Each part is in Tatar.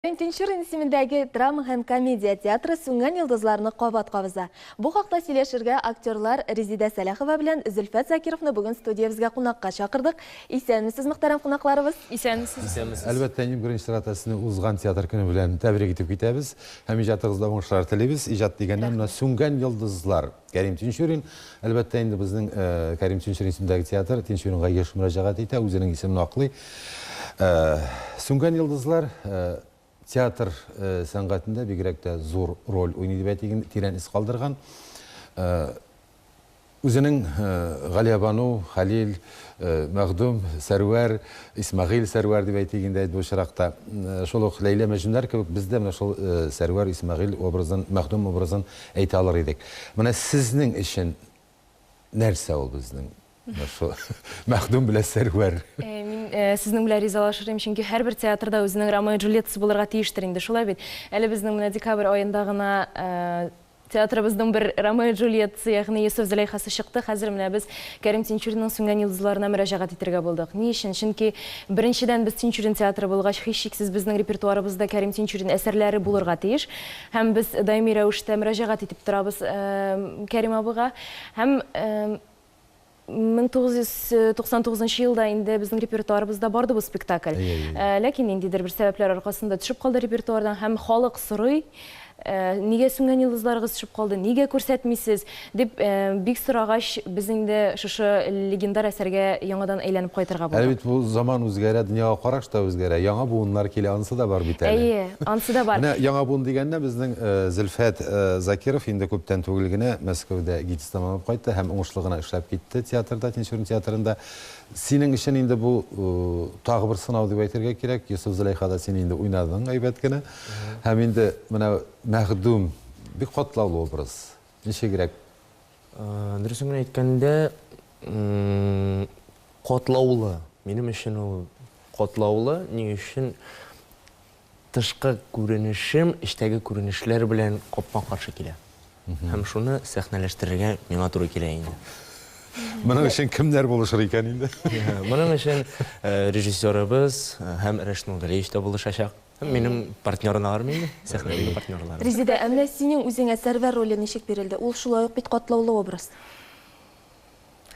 Пентинчур исемендәге драма һәм комедия театры сүнгән йолдызларны кабат кабыза. Бу хакта сөйләшергә актерлар Резидә Сәлахова белән Зөлфәт Закировны бүген студиябезгә кунакка чакырдык. Исәнмесез, мөхтәрәм кунакларыбыз! Исәнмесез! Исәнмесез! Әлбәттә, иң беренче чиратта сезне узган театр көне белән тәбрик итеп китәбез һәм иҗатыгызда уңышлар телибез. Иҗат дигәннән, менә Рәхмәт! Сүнгән йолдызлар! Кәрим Тинчурин, әлбәттә, инде безнең Кәрим Тинчурин исемендәге театр Тинчуринга еш мөрәҗәгать итә, үзенең исемен аклый. Сүнгән йолдызлар театр сәнгатендә бигрәк тә зур роль уйный дип әйтик, тирән эз калдырган. Үзенең Галиябану, Хәлил, Мәхдүм, Сәрвәр, Исмәгыйль, Сәрвәр дип әйтик инде бу очракта. Шул ук Ләйлә, Мәҗнүннәр кебек без дә менә шул Сәрвәр, Исмәгыйль образын, Мәхдүм образын әйтә алыр идек. Менә сезнең өчен нәрсә ул безнең менә шул Мәхдүм белән Сәрвәр? Мин сезнең белән ризалашыр идем, чөнки һәрбер театрда үзенең Ромео-Джульеттасы булырга тиештер инде, шулай бит? Әле безнең менә декабрь аенда гына Театрыбызның бер Ромео-Джульеттасы, ягъни Йосыф-Зөләйхасы чыкты, хәзер менә без Кәрим Тинчуринның Сүнгән йолдызларына мөрәҗәгать итәргә булдык. Ни өчен? Чөнки, беренчедән, без Тинчурин театры булгач, һичшиксез безнең репертуарыбызда Кәрим Тинчурин әсәрләре булырга тиеш. Һәм без даими рәвештә мөрәҗәгать итеп торабыз Кәрим абыйга. Һәм. 1999 нчы елда инде безнең репертуарыбызда барды бу спектакль. Ләкин ниндидер бер сәбәпләр аркасында төшеп калды репертуардан һәм халык сорый, нигә сүнгән йолдызларыгыз төшеп калды, нигә күрсәтмисез, дип бик сорагач, без инде шушы легендар әсәргә яңадан әйләнеп кайтырга булдык. Әле бит бу заман үзгәрә, дөньяга караш та үзгәрә, яңа буыннар килә, анысы да бар бит әле. Әйе, анысы да бар. Менә яңа буын дигәндә, безнең Зөлфәт Закиров инде күптән түгел генә Мәскәүдә гид. Тәмамлап кайтты һәм уңышлы гына эшләп китте театрда, Тинчурин театрында. Синең өчен инде бу тагы бер сынау дип әйтергә кирәк. Йосыф Зөләйхада син инде уйнадың әйбәт кенә. Һәм инде менә Мәхдүм бик катлаулы образ. Ничегрәк? Дөресен генә әйткәндә, катлаулы. Минем өчен ул катлаулы. Ни өчен? Тышкы күренешем эчтәге күренешләр белән капма-каршы килә. Һәм шуны сәхнәләштерергә миңа туры килә инде. Моның өчен кемнәр булышыр икән инде? Моның өчен режиссерыбыз һәм Рәшит Нургалиевич та булышачак. Һәм минем партнерларым инде, сәхнәдәге партнерларым. Резеда, ә менә синең үзеңә Сәрвәр роле ничек бирелде? Ул шулай ук бит катлаулы образ.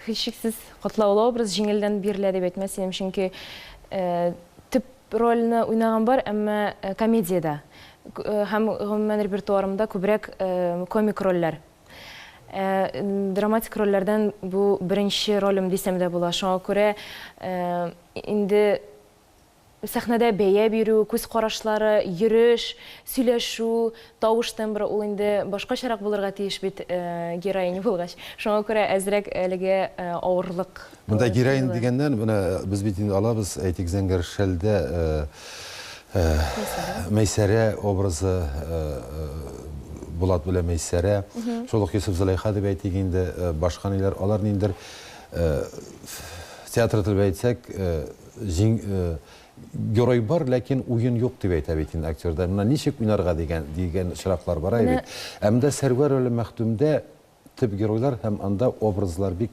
Һичшиксез, котлаулы образ җиңелдән бирелә дип әйтмәс идем, чөнки төп рольне уйнаган бар, әмма комедиядә һәм гомумән репертуарымда күбрәк комик рольләр. Драматик рольләрдән бу беренче ролем дисәм дә була. Шуңа күрә инде Сәхнәдә бәя бирү, күз карашлары, йөреш, сөйләшү, тавыш тембры, ул инде башкачарак булырга тиеш бит, героиня булгач. Шуңа күрә әзрәк әлегә авырлык Монда тоелды. героиня дигәннән, менә без бит инде алабыз, әйтик, Зәңгәр шәлдә Мәйсәрә образы, Булат белән Мәйсәрә, шул ук Йосыф-Зөләйха дип әйтик инде, башка ниләр, алар ниндидер, театр теле белән әйтсәк, Зин, э, герой бар, ләкин уен юк дип әйтә бит инде актерда. Монда ничек уйнарга дигән, дигән очраклар бара Менә. бит. Ә монда Сәрвәр әле Мәхдүмдә төп геройлар һәм анда образлар бик,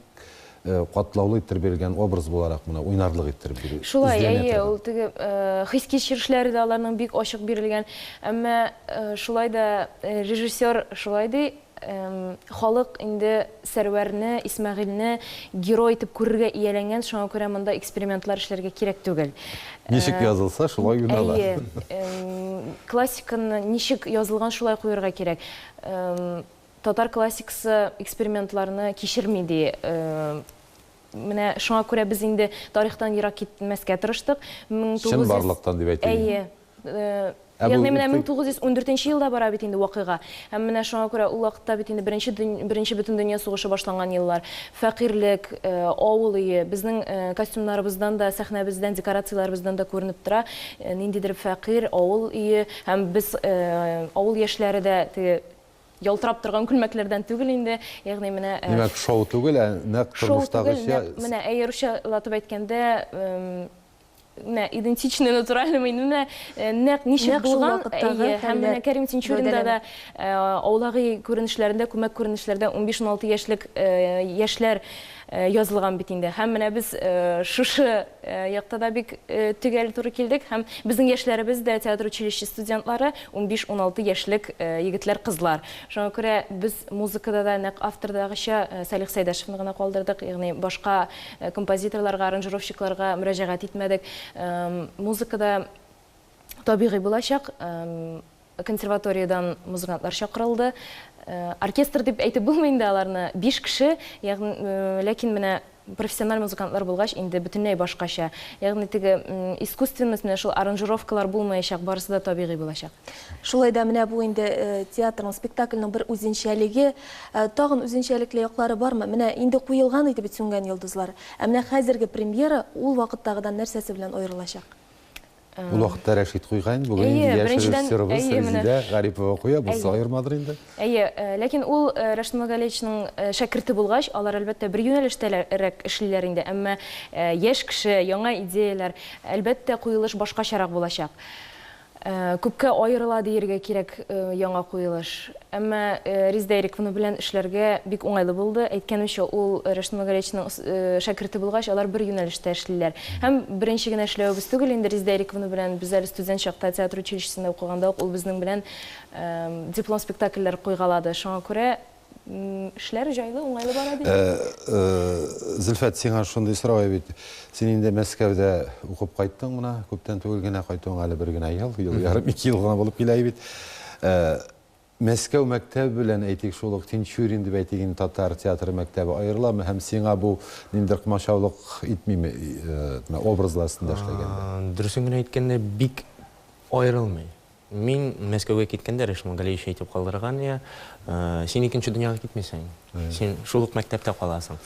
э, катлаулы иттереп бирелгән образ буларак менә уйнарлык иттереп бирү Шулай, эзләнә әйе, торган. ул теге, э, хис-кичерешләре дә аларның бик ачык бирелгән. Әмма, э, шулай да, э, режиссер шулай ди, Халык инде Сәрвәрне, Исмәгыйльне герой итеп күрергә ияләнгән, шуңа күрә монда экспериментлар эшләргә кирәк түгел. Ничек язылса, шулай уйнала. Әйе. Классиканы ничек язылган, шулай куерга кирәк. Татар классикасы экспериментларны кичерми, ди. Менә шуңа күрә без инде тарихтан ерак китмәскә тырыштык. Чынбарлыктан дип әйтик. Әйе. Ягъни менә 1914 елда бара бит инде вакыйга. Һәм менә шуңа күрә ул вакытта бит инде беренче беренче бөтендөнья сугышы башланган еллар. Фәкыйрьлек, авыл өе, безнең костюмнарыбыздан да, сәхнәбездән, декорацияләребездән дә күренеп тора, ниндидер фәкыйрь авыл өе. Һәм без, авыл яшьләре дә теге ялтырап торган күлмәкләрдән түгел инде. Ягъни менә Димәк, шоу түгел, ә нәкъ тормыштагыча. Шоу түгел, нәкъ менә, әйе, русчалатып әйткәндә, менә идентичный натуральный менә э, нәкъ ничек булган э, һәм менә Кәрим Тинчуринда да э, аулаги күренешләрендә күмәк күренешләрдә 15-16 яшьлек яшьләр язылган бит инде һәм менә без шушы якта да бик төгәл туры килдек һәм безнең яшьләребез дә театр училище студентлары 15-16 яшьлек егетләр кызлар шуңа күрә без музыкада да нәкъ автордагыча Салих Сәйдәшевны гына калдырдык ягъни башка Композиторларга, аранжировщикларга мөрәҗәгать итмәдек. Музыка да табигый булачак. Консерваториядән музыкантлар чакырылды. Оркестр дип әйтеп булмый инде аларны. Биш кеше, ягъни, ләкин менә профессиональ музыкантлар булгач, инде бөтенләй башкача. Ягъни теге искусственность, менә шул аранжировкалар булмаячак, барысы да табигый булачак. Шулай да менә бу инде театрның, спектакльнең бер үзенчәлеге. Ә тагын үзенчәлекле яклары бармы? Менә инде куелган иде бит Сүнгән йолдызлар. Ә менә хәзерге премьера ул вакыттагыдан нәрсәсе белән аерылачак? Ул вакытта Рәшит куйган, бүген инде Әйе, яшь беренчедән, режиссерыбыз әйе, менә. Резидә Гарипова куя, булса Әйе. аермадыр инде. Әйе, э, ләкин ул э, Рәшит Нургалиевичның э, шәкерте булгач, алар, әлбәттә, бер юнәлештәрәк эшлиләр инде, әмма э, яшь кеше, яңа идеяләр, әлбәттә, куелыш башкачарак булачак. Күпкә аерыла диергә кирәк яңа куелыш. Әмма Риздә Ирековна белән эшләргә бик уңайлы булды. Әйткәнемчә, ул Рәшит Магариевичның шәкерте булгач, алар бер юнәлештә эшлиләр. Һәм беренче генә эшләвебез түгел инде Риздә Ирековна белән. Без әле студент чакта, театр училищесында укыганда ук ул безнең белән диплом спектакльләр куйгалады. Шуңа күрә Эшләр җайлы, уңайлы бара бит. Зөлфәт, сиңа шундый сорау бит. Син инде Мәскәүдә укып кайттың гына, күптән түгел генә кайтуың әле бер генә ел, ел ярым, ике ел гына булып килә бит. Мәскәү мәктәбе белән әйтик шул ук Тинчурин дип әйтик инде татар театры мәктәбе аерыламы һәм сиңа бу ниндидер комачаулык итмиме образлар астында эшләгәндә? Дөресен генә әйткәндә, бик аерылмый. Мин Мәскәүгә киткәндә Ришма Галиевич әйтеп калдырган, йә, син икенче дөньяга китмисең, син шул ук мәктәптә каласың.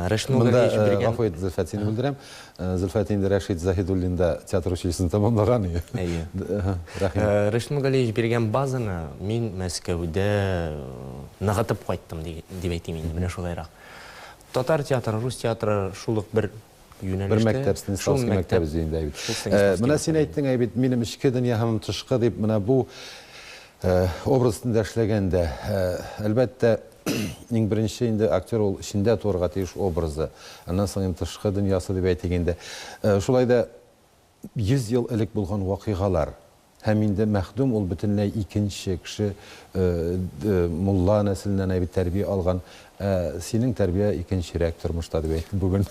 Ришма Галиевич биргән... Монда, гафу ит, Зөлфәт, сине бүлдерәм. Зөлфәт инде Рәшит Заһидуллинда театр училищесын тәмамлаган. Әйе. Рәхим. Ришма Галиевич биргән базаны мин Мәскәүдә ныгытып кайттым, дип әйтим инде, менә шулайрак. Татар театры, рус театры шул ук бер Бер мәктәп, Станиславский мәктәбе дигәндә әйбит. Менә син әйттең, әйбит, минем эчке дөнья һәм тышкы дип, менә бу образ өстендә эшләгәндә, әлбәттә, иң беренче инде актер ул эчендә туырга тиеш образы. Аннан соң инде тышкы дөньясы дип әйтик инде. Шулай да 100 ел элек булган вакыйгалар. Һәм инде мәхдүм ул бөтенләй икенче кеше, мулла нәселеннән әйбәт тәрбия алган. Ә синең тәрбия икенчерәк тормышта, дип әйтте бүген.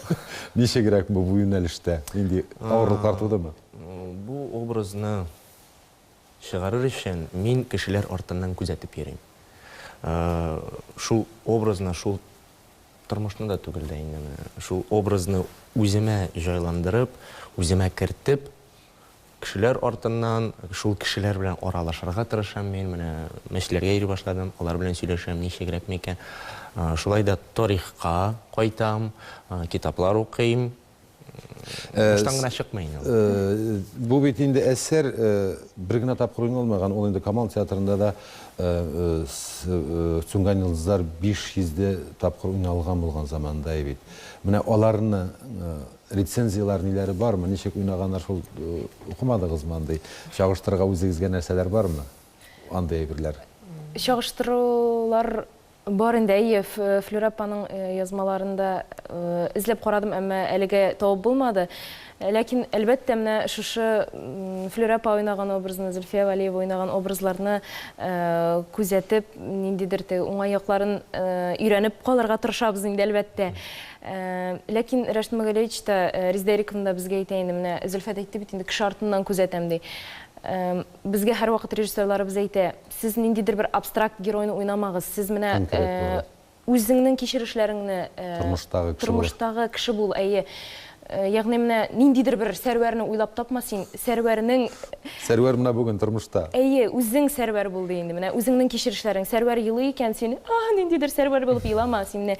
Ничегрәк бу юнәлештә? Нинди авырлыклар тудымы? Бу образны Чыгарыр өчен мин кешеләр артыннан күзәтеп йөрим. Шул образны, шул тормышны да түгел дә инде, шул образны үземә җайландырып, үземә кертеп, кешеләр артыннан, шул кешеләр белән аралашырга тырышам мин. Менә мәчетләргә йөри башладым, алар белән сөйләшәм, ничегрәк микән. Шулай да тарихка кайтам, китаплар укыйм. Баштан гына чыкмый инде. Бу бит инде әсәр бер генә тапкыр уйналмаган, ул инде Камал театрында да Сүнгән йолдызлар 500 дә тапкыр уйналган булган заманда бит. Менә аларны рецензияләр ниләре бармы, ничек уйнаганнар шул укымадыгызмы андый? Чагыштырырга үзегезгә нәрсәләр бармы? Андый әйберләр. Чагыштырулар Бар инде, әйе, Флүрә апаның язмаларын да эзләп карадым, әмма әлегә табып булмады. Ләкин, әлбәттә, менә шушы Флүрә апа уйнаган образны, Зөлфия Вәлиева уйнаган образларны күзәтеп, ниндидер теге уңай якларын өйрәнеп калырга тырышабыз инде, әлбәттә. Ләкин Рәшит Магәлевич та, Резедә Ирековна да безгә әйтә инде, менә Зөлфәт әйтте бит инде, кеше артыннан күзәтәм, ди. Безгә һәрвакыт режиссерларыбыз әйтә, сез ниндидер бер абстракт геройны уйнамагыз, сез менә үзеңнең кичерешләреңне, тормыштагы кеше бул, әйе. Ягъни менә ниндидер бер Сәрвәрне уйлап тапма син, Сәрвәрнең Сәрвәр менә бүген тормышта. Әйе, үзең Сәрвәр бул ди инде, менә үзеңнең кичерешләрең. Сәрвәр елый икән, син, ах, ниндидер Сәрвәр булып елама, син менә